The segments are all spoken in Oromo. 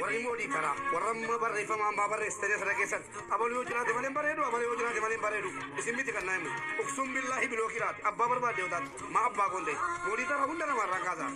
Warri immoo diitaraa warra amma barreeffama hambaa barreessitanii sana keessan abaluu yoo jiraate malee hin bareedu abalee yoo jiraate malee hin bareedu isin miti kan naa himu uksuun billaahi bilookii laate abbaa barbaadde yoo taate maa abbaa koon ta'e moo diitaraa hunda namaa irraan kaasaa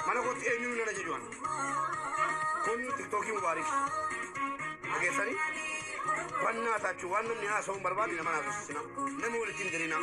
mana kootti eenyuun nan ajaju'an kun tiktookii mubaarik dhageessanii bannaa taachuu waan namni haasa'uu hin barbaadne nama naasosisina nama walitti hin dirinaa.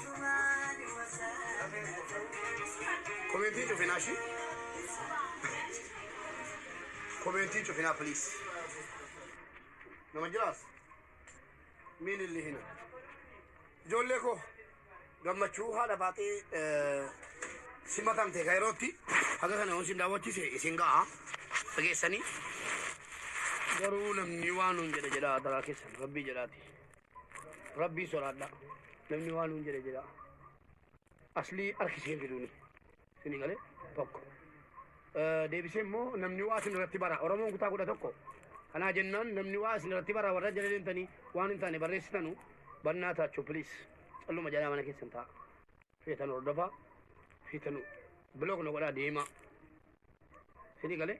Komentiin cufinaa shi. Komentiin cufinaa please. Nama jiraas. Miin illee hina. Ijoollee koo gammachuu haadha baatee eh, simatamte kan yerootti haga kana yoon isin daawwachiise isin ga'a dhageessanii garuu namni waan nuun jedha jedha adaraa keessan rabbii jedhaati. Rabbii sodaadha. Namni waan nuun jedhe jedha. Aslii harki isheen fiduuni. Isinii galee tokko. Eh, Deebisee immoo namni waa isin irratti bara. Oromoon kutaa kudha tokko. Kanaa jennaan namni waa isin irratti bara warra jala deemtanii waan hin taane barreessitanu bannaa taachuu piliis. Calluma jalaa mana keessan ta'a. Feetan hordofaa. Feetan biloog na godhaa deemaa. Isinii galee